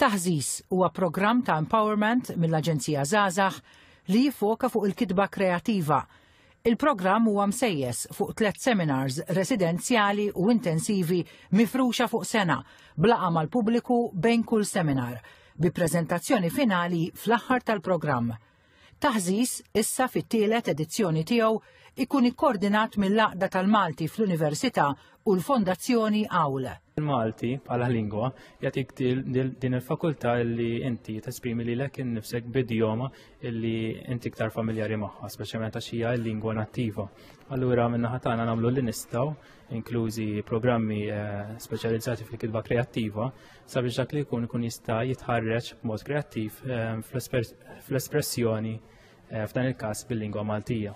Taħżiż huwa programm ta' empowerment mill-Aġenzija Żgħażagħ li jiffoka fuq il-kitba kreattiva. Il-programm huwa msejjes fuq tliet seminars residenzjali u intensivi mifruxa fuq sena blaqa mal-pubbliku bejn kull seminar bi preżentazzjoni finali fl-aħħar tal-programm. Taħżiż, issa fit-tielet edizzjoni tiegħu, ikun ikkordinat mill-Għaqda tal-Malti fl-Università u l-Fondazzjoni Awl. Il-Malti bħala lingwa jagħtik din il-fakultà li inti tesprimi lilek innifsek bidjoma li inti iktar familjari magħha, speċjalment għax hija l-lingwa nattiva. Allura minna ħatana nagħmlu li nistgħu, inklużi programmi eh, speċjalizzati fil-kitba kreattiva, sabiex dak li jkun ikun jista' jitħarreġ b'mod kreattiv ehm, fl-espressjoni eh, f'dan il-każ bil-lingwa Maltija.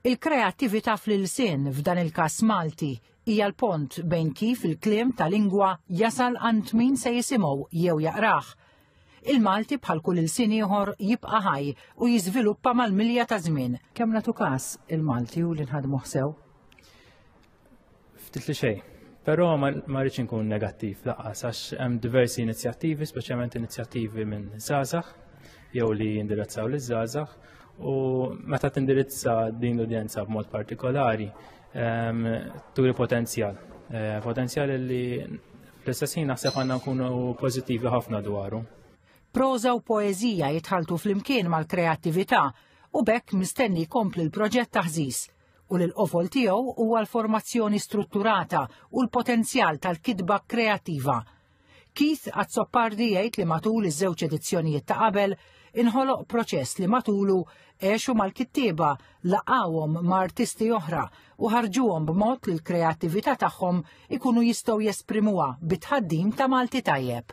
Il-kreattività fl-ilsien f'dan il-każ Malti hija l-pont bejn kif il-kliem ta' lingwa jasal għand min se jisimgħu jew jaqrah. Il-Malti bħal kull il-sin ieħor jibqa' ħaj u jiżviluppa mal-milja ta' żmien. Kemm nagħtu każ il-Malti u li nħadmu ħsew? Ftit li xejn. Però ma rridx inkun negattiv laqas għax hemm diversi inizjattivi, speċjalment inizjattivi minn żgħażagħ jew li jindirizzaw liż żgħażagħ u meta tindirizza din l-udjenza b'mod partikolari ehm, turi potenzjal. Eh, potenzjal li fl-istess ħin naħseb għandna nkunu pożittivi ħafna dwaru. Proza u poeżija jitħaltu flimkien mal-kreattività u bekk mistenni kompli l-proġett taħżis u li l-qofol tiegħu huwa l-formazzjoni strutturata u l-potenzjal tal-kitba kreattiva. Keith Azzopardi jgħid li matul iż-żewġ edizzjonijiet ta' qabel inħoloq proċess li matulu għexu mal-kittieba laqawhom ma' artisti oħra u ħarġuhom b'mod li l-kreattività tagħhom ikunu jistgħu jesprimuha bit-tħaddim ta' Malti tajjeb.